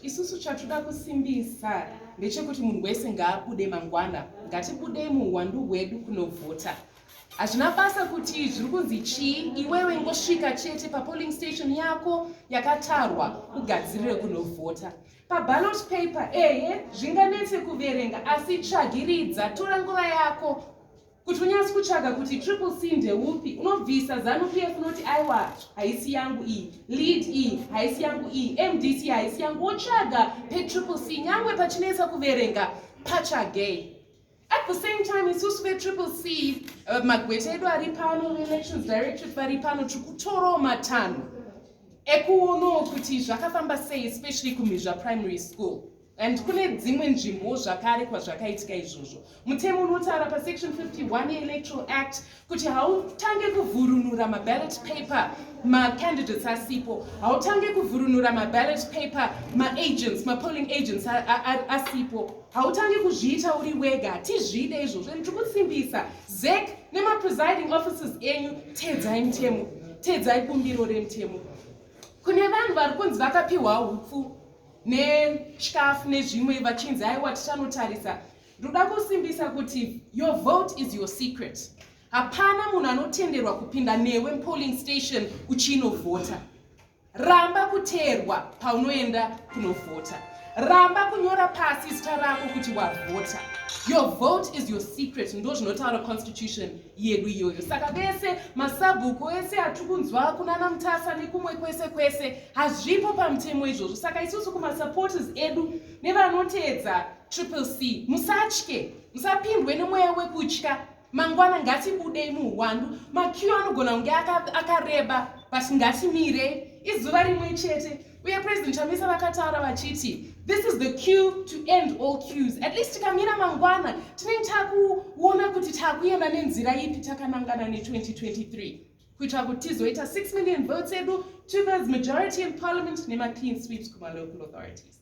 Isusu chatuda kusimbisa ndechekuti munhu wese ngaabude mangwana, ngatibudei muhuwandu hwedu kunovhota. Hazvina basa kuti zviri kunzi chii, iwewe ngosvika chete papolling station yako yakatarwa ugadzirire kunovhota. Paballot paper ehe zvinganetse kuverenga asi tsvagiridza, tora nguva yako. kuti unyatsi kutsvaga kuti triple c ndeupi unobvisa zanu p f unoti aiwa haisi yangu iyi lead iyi haisi yangu iyi mdc haisi yangu wotsvaga petriple c nyangwe pachinetsa kuverenga pachagei at the same time isusu vetriple c uh, magweta edu ari pano veelections directorate vari pano tiri kutorawo matanho ekuonawo kuti zvakafamba sei especially kumhizva primary school and kune dzimwe nzvimbowo zvakare kwazvakaitika izvozvo mutemo unotaura pasection 51 yeelectoral act kuti hautange kuvhurunura maballot paper macandidates asipo hautange kuvhurunura maballot paper maagents mapolling agents asipo hautange kuzviita uri wega hatizvide izvozvo and tikusimbisa zek nemapresiding offices enyu teedzai mutemo teedzai bumbiro remutemo kune vanhu vari kunzi vakapiwa upfu nechikafu nezvimwe vachinzi aiwa tichanotarisa ndoda kusimbisa kuti your vote is your secret hapana munhu anotenderwa kupinda newe mupolling station uchinovhota ramba kuteerwa paunoenda kunovhota ramba kunyora pasi zita rako kuti wavhota your vote is your secret ndo zvinotaura constitution yedu iyoyo saka vese masabhuku ese atiri kunzwa kunana mutasa nekumwe kwese kwese hazvipo pamutemo izvozvo saka isusu kumasupporters edu nevanoteedza triple c musatye musapindwe nemweya wekutya mangwana ngatibudei muhwandu makiyo anogona kunge akareba but ngatimire izuva rimwe chete uye president chamisa vakataura vachiti this is the cue to end all cues at least tikamira mangwana tinenge takuona kuti takuenda nenzira ipi takanangana ne2023 kuitira kuti tizoita 6 million votes edu two-thirds majority in parliament nema-clean sweeps kuma-local authorities